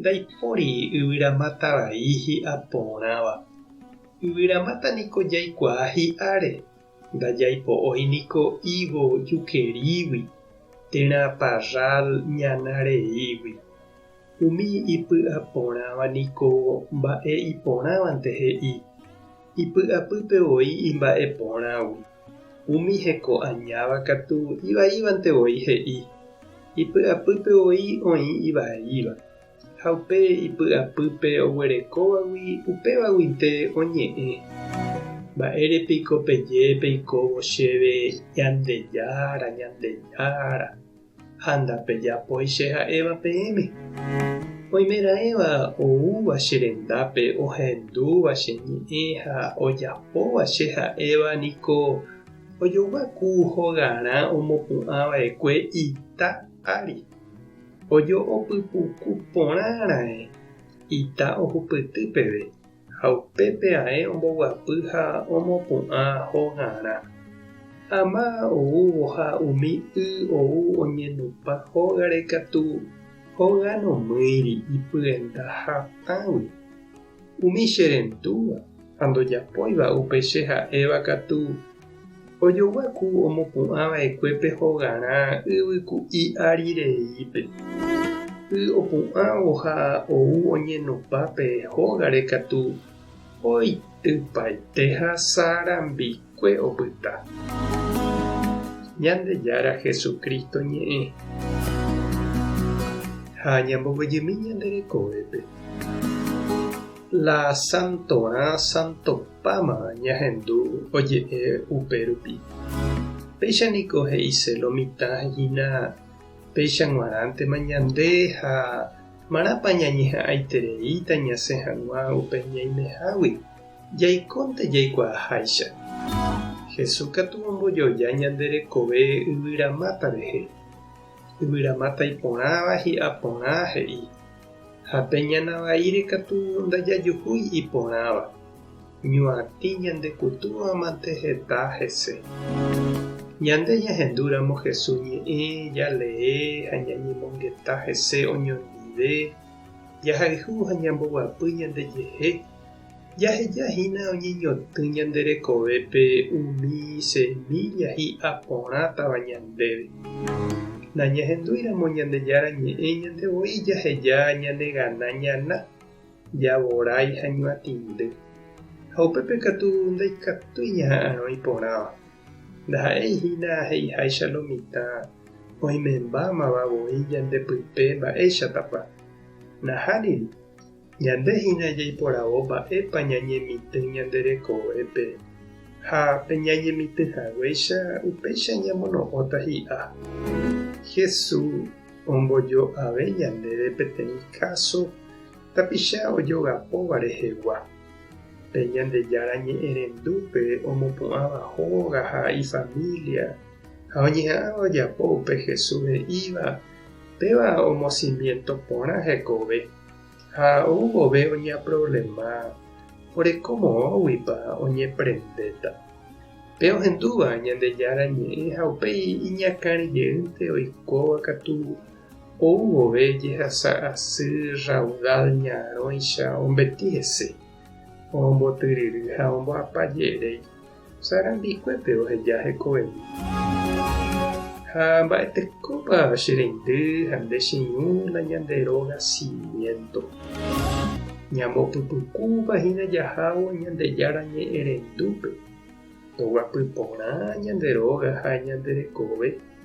Ndaipóri yvyramáta vai hi'a porãva. Yvyramáta niko jaikuaa hi'áre, ndajaipo'ói niko higo jukerígui, térã parrál ñana reígui. Umi ipy'a porãva niko mba'e iporãvante he'i. Ipy'apýpe voi imba'e porãgui, umi heko añáva katu ivaívante voi he'i, Ipy'apýpe voi oĩ ivaíva, ha upe ipy'apýpe oguerekóvagui upévaguinte oñe'ẽ, Mba'ére piko peje peikóvo chéve Ñandejára, Ñandejára? ha ndapejapói che ha'éva peẽme. Oimeraẽva oúva che rendápe ohendúva che ñe'ẽ ha ojapóva che ha'éva niko ojoguaku hogarã omopu'ã vaekue ita ári. Ojo'opypuku porã raẽ ita ohupyty peve. ha upépe ae omboguapy ha omopu'ã hogarã. Ama oúvo ha umi y ou oñenupã hógare katu hoga nomýiri ipyenda hatãgui. Umi che rentúva ha ndojapóiva upe che ha'éva katu Ojogyaku omopu'ã va'ekue pe hogarã yvy ku'i ári reípe. Y opu'ãvo ha ou oñenopa pe hógare katu oitypaite ha sarambikue opyta. Ñandejára Jesucristo ñe'ẽ ha ñambovyjymi ñande rekovépe. La santorã santopáma ñahendu oje'e upérupi. Péicha niko he'ise lo mitã hína péicha g̃uarãntema ñande ha marãpa ñañeha'ãitereíta ñasẽ hag̃ua upe ñaimehágui, jaikónte jaikuaaháicha. Jesús katu ombojoja ñande rekove yvyramáta rehe. Yvyramáta iporãva hi'a porã he'i. Ha pe ñana vaíre katu ndajajuhúi iporãva, ñuatĩ ñandekutúvamante heta hese. Ñande ñahendúramo Hesu ñe'ẽ, jalee ha ñañemongeta hese oñondive, jahayhu ha ñamboguapy ñandejehe. Jaheja hína oñeñotỹ ñande rekovépe umi semílla hi'a porãtava ñandéve. Nañahendúiramo Ñandejára Ñe'ẽ ñande voi jaheja ñanegana ñana, javorái ha ñuatĩndy. Ha upépe katu ndaikatúi ñaha'arõ iporãva. Ndaha'éi hína he'iháicha lo mitã oimembámava voi ñande pype mba'éichatapa. Nahániri, Ñande hína jaiporavo mba'épa ñañemitỹ ñande rekovépe, ha pe ñañemitỹ haguéicha upéicha ñamono'õta hi'a. Jesús ombojo'ave ñandéve peteĩ káso tapicha ojogapóva rehegua. Pe Ñandejára ñe'ẽrendúpe omopu'ãva hóga ha ifamília ha oñeha'ãva ojapo upe Jesús he'íva, péva omosimiento porã hekove. Ha ou vove oñeaproblema oreko moõguipa oñeprendéta. Pe ohendúva Ñandejára Ñe'ẽ ha upéi iñakãri jeýnte oikóva katu ou vove jehasa asy raudal ñarõicha ombeti hese, ombotyryry ha omboapa je'éréi. Sã rambikuépe oheja hekoveve. Ha mba'etekópa che reindy ha nde che irũ la ñande róga simiénto. Ñambopypukúva hína jahávo Ñandejára Ñe'ẽrendúpe, toguapy porã ñande róga ha ñande rekove